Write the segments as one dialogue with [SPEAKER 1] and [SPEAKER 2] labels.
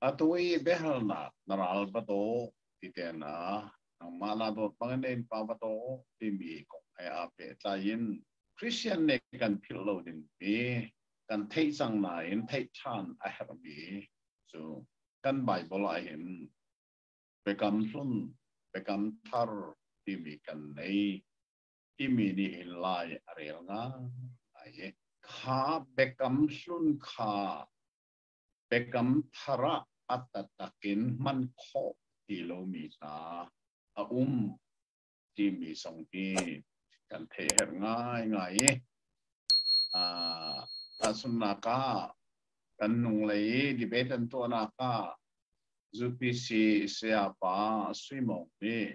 [SPEAKER 1] Atu i biahalnak na ral va daw ti tehna nangmah la dawt bang nen pa va daw timi kong ai a pe tlai in Christian nih kan philh lo ding mi kan theih cang nain theih ṭhan a herh mi cu kan Bible ah hin biakam hlun biakam thar timi kan nei i mi nih hin lai a rel ngai i kha biakam hlun kha biakam thar ah a tatak in hman khawh ti lomi hna a um timi zong hi kan thei her ngaingai i tahchunnak ah kan nunglei i debate an tuahnak ah ZPC sayapa Sui Mawng nih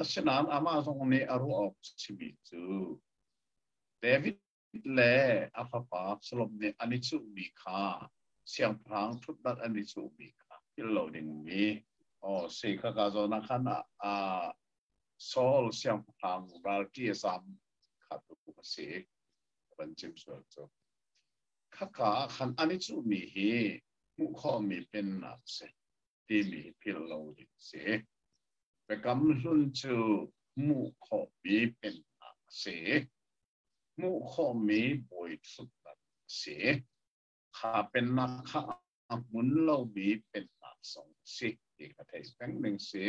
[SPEAKER 1] Asinain amah zong nih a ruah awk a simi cu David le a fapa Absalom nih an i cuhmi kha siangpahrang ṭhutnak an i cuhmi kha thil lo dingmi oh si khaka zawn ah khan ah Saul siangpahrang ralṭi a zam kha tu a si van chim sual cu khaka ah khan an i cuhmi hi hmuh khawhmi pennak a si timi philh lo ding si. Biakam hlun cu hmuh khawhmi pennak a si. Hmuh khawhmi bawiṭhutnak a si. Kha pennak kha a hmun lomi pennak zong a si ti ka thei peng ning si.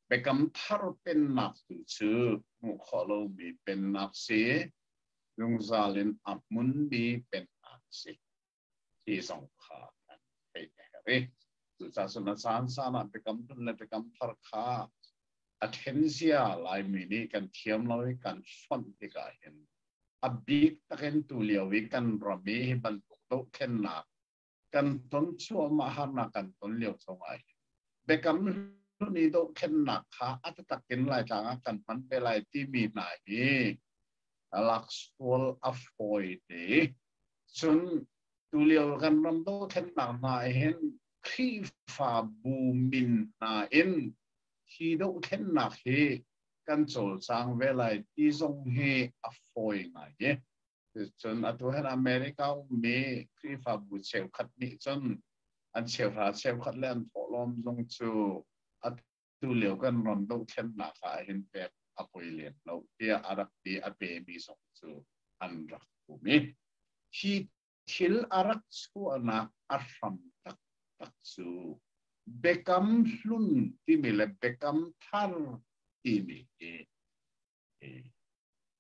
[SPEAKER 1] Biakam thar pennak tu cu hmuh khawh lomi pennak si. Zungzal in a hmunmi pennak si. ti zong kha an theih a herh i cucaah sunak caan caan ah biakam hlun le biakam thar kha a thenzia Laimi nih kan thiam lo i kan fonh tikah hin a bik takin tu lio i kan ram i hi bantuk dohthlennak kan ton chuahmah harnak kan ton lio chungah hin biakam hlun i dohthlennak kha a takin laitlang ah kan hman ve lai timi hna hi laksual a fawi te cun tulio kan ram dothlennak hna hin Khrihfabu min hna in hi dohthlennak hi kan cawlcang ve lai ti zong hi a fawi ngai i cun atu hin America ummi Khrihfabu cheukhat nih cun an cheuhra cheukhat le an thawhlawm zong cu a Tulio kan ram dohthlennak ahhin pek a poi lem lo tiah a rak ti a pemi zong cu an rak um i hi thil a rak chuahnak a hram taktak cu Biakam Hlun timi le Biakam Thar timi hi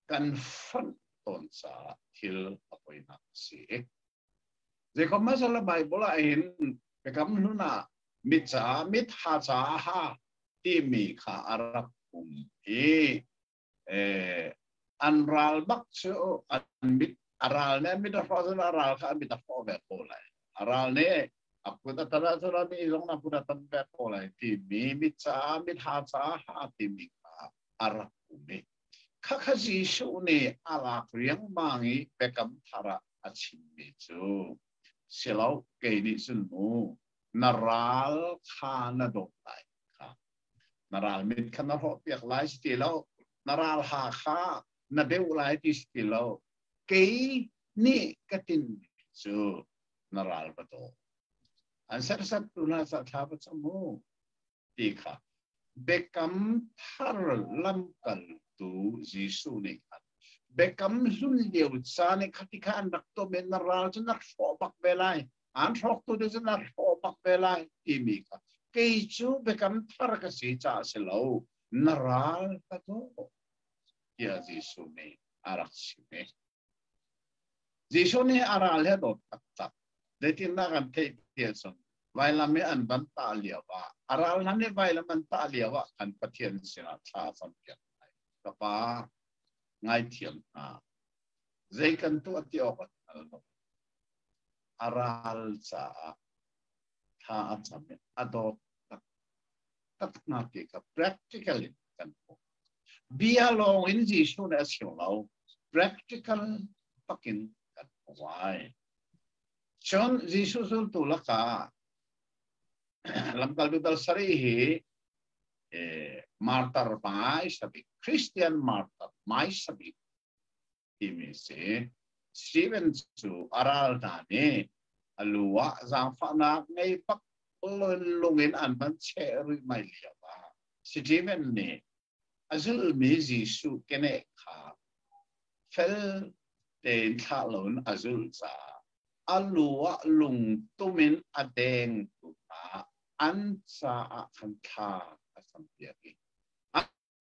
[SPEAKER 1] kan fonh tawn caah thil a poinak a si. Jacob masala Bible ah hin biakam hnun ah mi ca mit ha ca ha timi kha a rak um i eh, an ral bak cu an mit a ral ne mit a hro zun a ral kha mit a hro ve ko lai a ral ne a put a tara tara mi zong a put a tam ve ko lai ti mi mit ca mit ha ca ha timi kha a rak um i khakha Jesuh nih a lak riangmang i biakam thar ah a chimmi cu silo kei nih cun mu na ral kha na dawt lai kha na ral mit kha na hrawh piak lai si ti lo na ral ha kha na deuh lai ti si ti lo kei nih ka tinmi cu na ral va daw an sersat tu na sa tha va mu ti kha biakam thar lamkaltu Jesuh nih khan biakam hlun lio caan i khati kha an rak tom i na ral cu na hrawh bak ve lai an hrawktu tu cu na hrawh bak ve lai timi kha kei cu biakam thar ka si caah si lo na ral ka daw tiah Jesuh nih a rak chim Jesuh nih a ra le dawt taktak. Zeitindah kan theih ti ahcun vailam i an van tah lio ah, a ral hlan i vailam an tah lio ah kan Pathian sinah thla campiak lai. Ka pa, ngaithiam hna. Zei kan tuah ti awk an hngal lo. A ral caah thla a cam i a dawt tak taknak hi ka practical in kan hmuh. bia lawng in Jesuh nih a siu lo practical takin kan wai cun Jesuh zultu lakah lamkal tu dal sari hi martar mai sabik Christian martar mai sabik timi si. Steven cu a ral hna nih a lu ah zaangfahnak ngei bak lung in an van cheh rihmai lio ah Steven nih a zulmi Jesuh keneh kha fel tein thlah loin a zulh caah a lu ah lungtum in a dengtu hna an caah khan thla a campiak i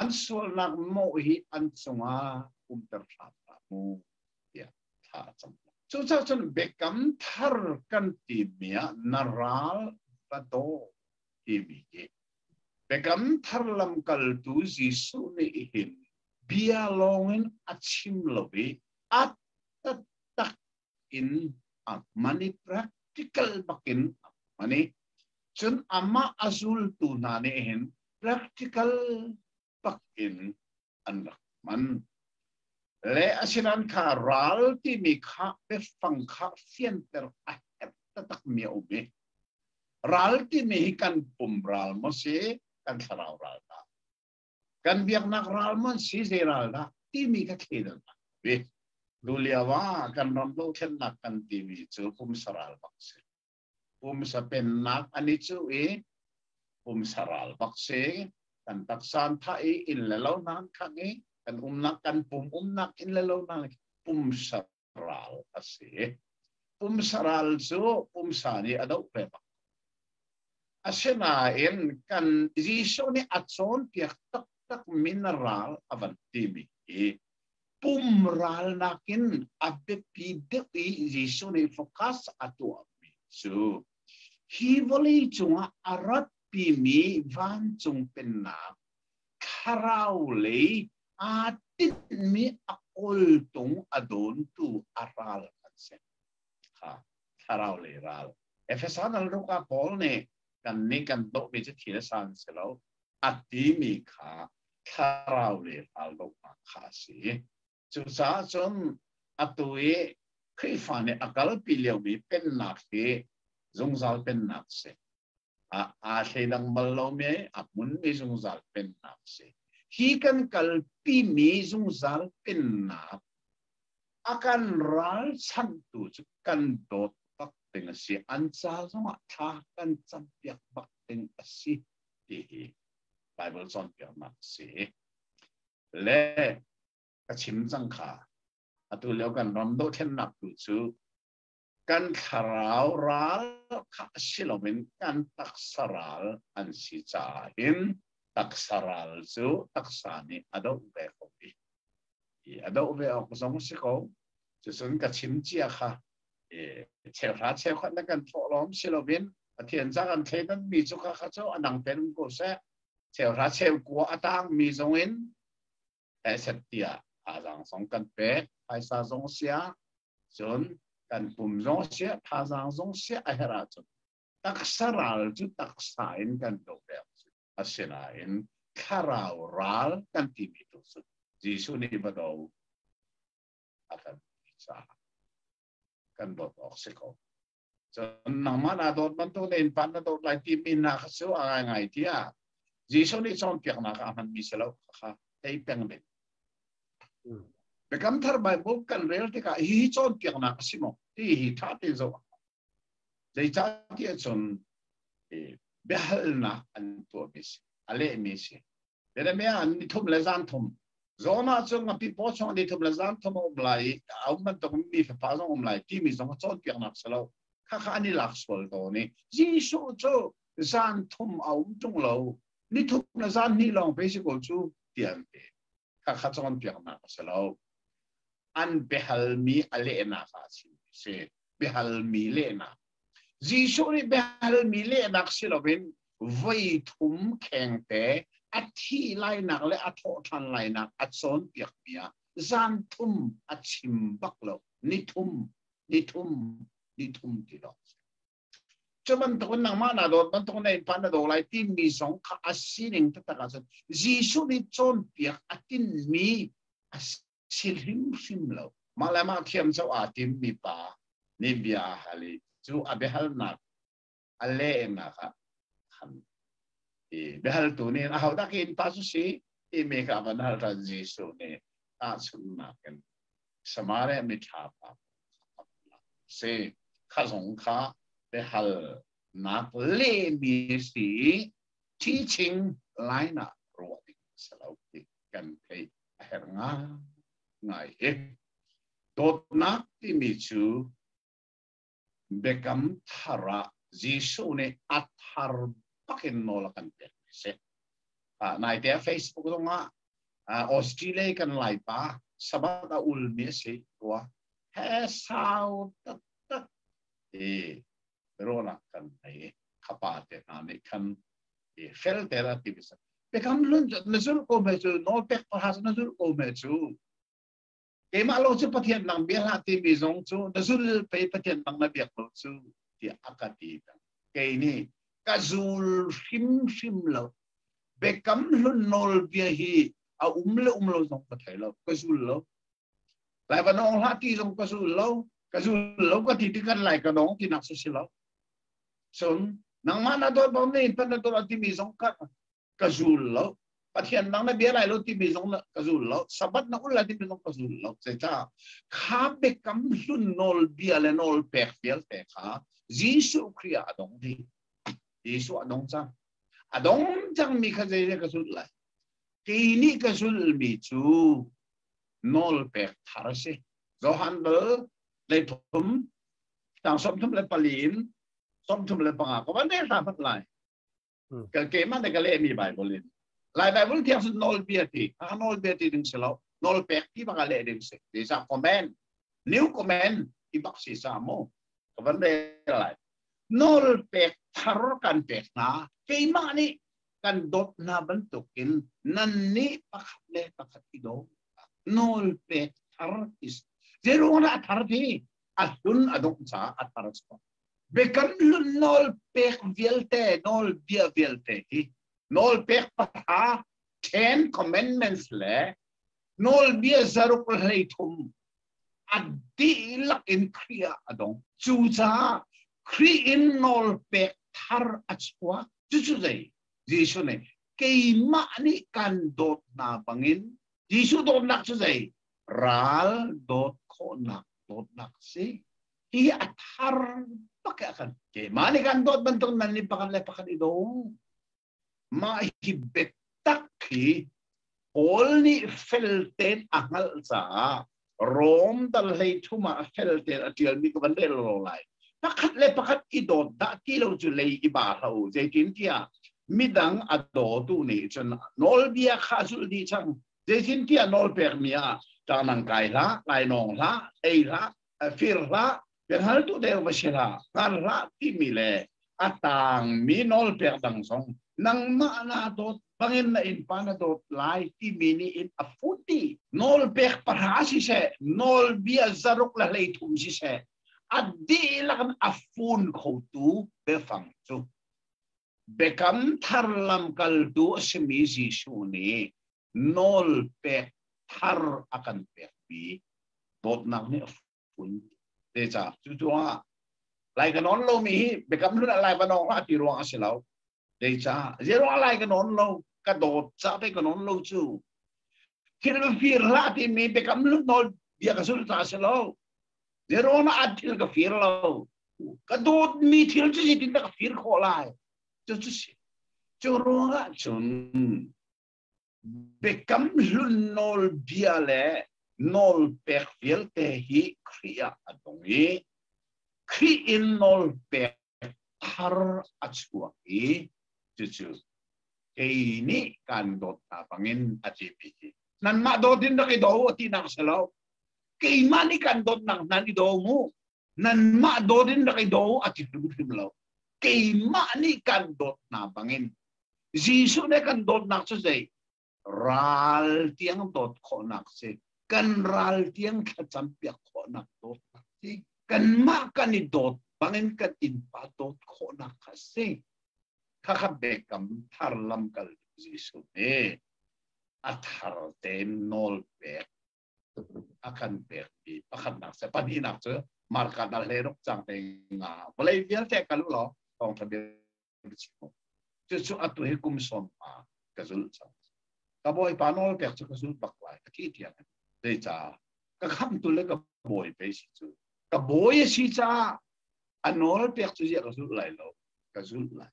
[SPEAKER 1] an sualnak mawh hi an cungah umter hram hram mu tiah thla a cam. Cucaah cun biakam thar kan timi ah na ral va daw timi hi biakam thar lamkaltu Jesuh nih hin bia lawngin a chim lo i a taktak in a mani practical bakin a mani cun amah a zultu hna nih hin practical bakin an rak man le asinan kha ral timi kha biafang kha fianter a herh taktak mi a um i ral timi hi kan pum ral maw si kan thlarau ral ta kan biaknak ral man si zei ral dah timi ka thlen an vi lu lio ah kan ram dothlennak kan timi cu pumsa ral bak si pumsa pennak ani cu i pumsa ral bak si kan taksan tha i in le lo nan khang i kan umnak kan pum umnak in le lo nan pumsa ral a si. Pumsa ral cu pumsa nih a doh peng. Asinain kan Jesuh nih a cawnpiak taktak mineral a van timi hi pum ral nakin a biapi deuh i Jesuh nih focus a tuahmi cu hi vawlei cungah a ratpimi vancung pennak thlarau lei aa tinhmi a kawltung a dawntu a ral an si. Ha, thlarau lei ral. Efeson ralruka Paul nih kan nih kan dohmi cu thil sa an si lo a timi kha thlarau le raldohnak kha a si. Cucaah cun atu i Khrihfa nih a kalpi liomi pennak hi zungzal pennak a si. aa thleidang bal lo me a hmun mi zungzal pennak si hi kan kalpi mi zungzal pennak a kan ralchanhtu cu kan dawt bak ding a si an ca zongah thla kan campiak bak ding a si ti hi Bible cawnpiaknak si le ka chim cang kha atu lio kan ram dohthlennak tu cu kan thlarau ral kha si loin kan taksa ral an si caah hin taksa ral cu taksa nih a doh ve ko i a doh ve awk zong si ko cucun ka chim cia kha cheuhra cheukhat na kan thawh lawm si loin pathian ca kan thei nan mi cu kha kha cu anang ten ko seh cheuhra cheu kua a tang mi zong in asset tiah thazaang zong kan pek phaisa zong siah cun kan pum zong siah thazaang zong siah a herh ahcun taksa ral cu taksa in kan do ve asinain thlarau ral kan timi tu cu Jesuh nih va do a kan ti caah kan dawt awk si ko. Cun nangmah na dawt bantuk le inpan na dawt lai timi na kha cu a ngai ngai tiah Jesuh nih cawnpiaknak a hmanmi si lo kha ei peng ding. Biakam thar Bible kan rel tikah hi cawnpiaknak a si maw? Ti hi ṭha te zoh. Zeicah tiah cun biahalnak an tuahmi si, a lehmi si. Jeremiah an ni thum le zan thum. Zoma cu ngapi po chong ni thum le zan thum a um lai i a um bantuk mi fapa zong um lai timi zong a cawnpiaknak si lo. Khakha ni lak sual to ni. Jesuh cu zan thum a um tung lo. Ni thum le zan hnih lawng pe si ko cu tian te. Khakha cawnpiaknak si lo. An behal mi a lehnak ah si. si. Behal mi lehnak Jesuh nih biahalmi lehnak si loin voi thum khengte a thi lainak le a thawhṭhan lainak a cawnpiakmi ah zan thum a chim bak lo. Ni thum, ni thum, ni thum ti lo. Cu bantukin nangmah na dawt bantukin na innpa na daw lai timi zong kha a sining taktak ah cun Jesuh nih cawnpiak a tinmi a thil hrimhrim lo, mah le mah thiamco aa timmi pa nih bia a hal i cu a biahalnak a lehnak ah khan i biahaltu nih ahodah in pa cu si timi kha van hal ran Jesuh nih tahchunhnak in Samaria miṭha pa si kha zong kha biahalnak lehmi si teaching line ah ruah ding a si lo ti kan theih a herh ngai hi. Dawtnak timi cu biakam thar ah Jesuh nih a thar bakin nawl a kan pek mi si. Uh, nai te Facebook zong ah uh, Australia kan lai pa sabat a ul mi si tua he sau tak tak ti biaruahnak kan ngei ka pa te hna nih khan fel te la ti bisa pekam lun na zul ko me cu no pek pahas na zul ko me cu keimah lo cu pathian nang bia hla ti mi zong cu na zul pe pathian nang na biak lo cu ti aka ti kei nih ka zul hrim hrim lo bekam hlun nol bia hi a um le um lo zong ka thei lo ka zul lo Lai van ong hla ti zong ka zul lo ka zul lo ka ti tikan lai ka nong ti nak su si lo sun nangma na dor bom ne pan na dor ti mi zong ka ka zul lo pathian nang na bia lai lo ti mi zong na ka zul lo sabat na ul ti mi zong ka zul lo se ta kha be kam hlun nol bia le nol pek pial te kha Jesu Kriya adong di Jesu adong chang adong chang mi kha zei ka zul lai keini ka zul mi cu nawl pek thar a si Johan bal le thum tang som thum le pali in som thum le panga ko van ne hla fat lai ka ke man de ka le mi bible in lai bible tiang sun nawl bia ti a nawl bia ti ding selo nawl pek ti baka le ding se this a command new command i bak si sa mo ka van de lai nawl pek thar kan pek na keima ni kan dawt hna bantukin nan nih pakhat le pakhat i dawt nawl pek thar is zeirungah a thar ti a hlun a dongh caah a thar chuah biakam hlun nawl pek vialte nawl bia vialte hi nawl pek patha ten commandments le nawlbia zaruk hlei thum a dihlak in Khrih ah a dong cucaah Khrih in nawl pek thar a chuak cucu zei Jesuh nih keimah nih kan dawt hna bangin Jesuh dawtnak cu zei ral dawt khawhnak dawtnak si hi a thar bak a kan keimah nih kan dawt bantuk nan nih pakhat le pakhat i dong Mah hi biatak hi Paul nih fel tein a hngalh caah Rom dal hlei thum ah fel tein a ṭialmi ka van rel lo lai. Pakhat le pakhat i dawt dah ti lo cu lei i ba hlah u. Zeitintiah midang a dawtu nih cun nawlbia kha a zulh dih cang. Zeitintiah nawlpekmi ah ṭang nang kai hlah, lainawng hlah, ei hlah, fir hlah biahaltu deu va si hlah hngal hlah timi le a tangmi nawlpek dang zong nangmah na dawt bangin na in pa na dawt lai timi nih in a futi nawl pek para si se nawl bia zaruk la hlei thum si se a dihlak a fun khotu biafang cu Biakam Thar lamkaltu a simi Jesuh nih nawl pek thar a kan pekmi dawtnak nih a fun. Zeicah? Cucu ah lai ka nawn lomi hi biakam hlun ah lai va nawn hlah ti ruang a si lo. Zeicah? Zeruang lai ka nawn lo, ka dawt cah pei ka nawn lo cu. Thirfir hlah timi biakam lut nawl bia ka sul ta si lo. Verona a thil ka fir lo. Ka dawt mi thil cu zeitin dah ka fir khawh lai. Cu cu si. Cu ruangah cun biakam hlun nawl bia le nawl pek vialte hi Khrih ah a dong i Khrih in nawl pek thar a chuak i cucu kei nih kan dawt hna bangin a tipi hi nanmah dawt in rak i do tinak si lo keimah nih kan dawtnak nan i do mu nanmah dawt in rak i do a ti hrimhrim lo keimah nih kan dawt hna bangin Jesuh nih kan dawtnak cu zei ral tiang dawt khawhnak si kan ral tiang thlacam piak khawhnak dawtnak si kanmah kan i dawt bangin kan innpa dawt khawhnak kha si khakha bekam thar lam kal Jesuh nih a thar tein nawl pek a kan pekmi pakhatnak se pahnihnak cu marka dal le ruk cang te nga vawlei vialte ka lu lo thawng tha bia chim cu cu atu hi kum sawm ma ka zul cang ka bawi pa nawl pek cu ka zul bak lai ka ti tiang zei ca ka kham tu le ka bawi pe si cu ka bawi si ca a nawl pek cu zia ka zul lai lo ka zul lai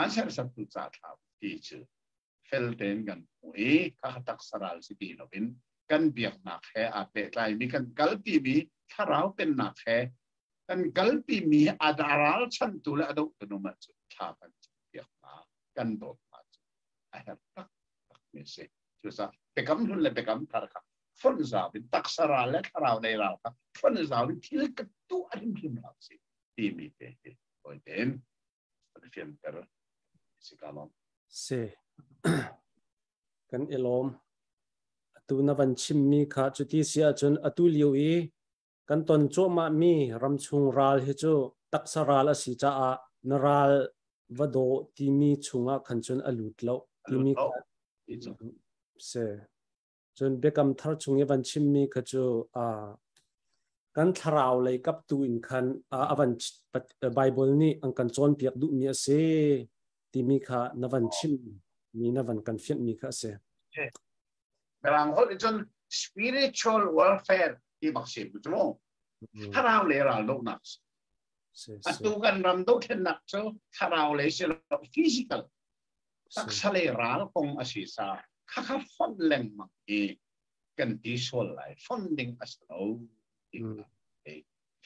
[SPEAKER 1] An sersertu ca ṭha ti cu fel tein kan hmuh i kha taksa ral si ti loin kan biaknak he aa pehtlaimi kan kalpimi thlarau pennak he kan kalpimi a ralchantu le a dohtu man cu thla kan campiak hna kan dawt hna cu a herh taktakmi a si cucaah biakam hlun le biakam thar kha fonh zau in taksa ral le thlarau nei ral kha fonh zau in thil ka tuah hrimhrim hlah si timi te hi tawite in fianter si ka lom se
[SPEAKER 2] kan ilom atu na van chimmi kha cu ti si ahcun atu lio i kan ton cuahmah mi ramchung ral hi cu taksa ral a si caah na ral va do timi chungah khan cun a lut lo timi se Cun biakam thar chung i van chimmi kha cu kan thlarau lei kap tu in khan a van Baibal nih an kan cawnpiak duhmi a si timi kha na van chim mi na van kan fianhmi kha a si.
[SPEAKER 1] Mirang holh nih cun spiritual warfare ti bak si mu cu thlarau le ral dohnak atu kan ram dohthlennak cu thlarau le si lo physical taksa le ral kong a si sa khakha fonh lengmang hi kan ti sual lai fonh ding a si lo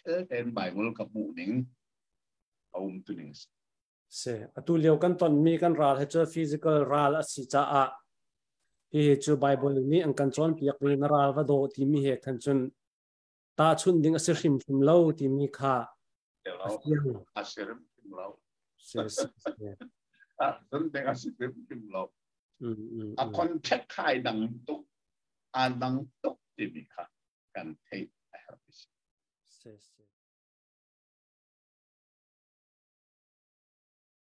[SPEAKER 1] thilten bible ka hmuh ning a um tu ning se
[SPEAKER 2] atu lio kan ton mi kan ral he cu physical ral a si ca a hi cu bible nih an kan cawn piak mi na ral va do ti mi he khan cun tahchunh ding a si hrimhrim lo timi kha a fiang.
[SPEAKER 1] A si hrimhrim lo.
[SPEAKER 2] Ahcun
[SPEAKER 1] ding a si hrimhrim lo. A contract khai dang tuk, a dang tuk timi kha kan theih a herh si.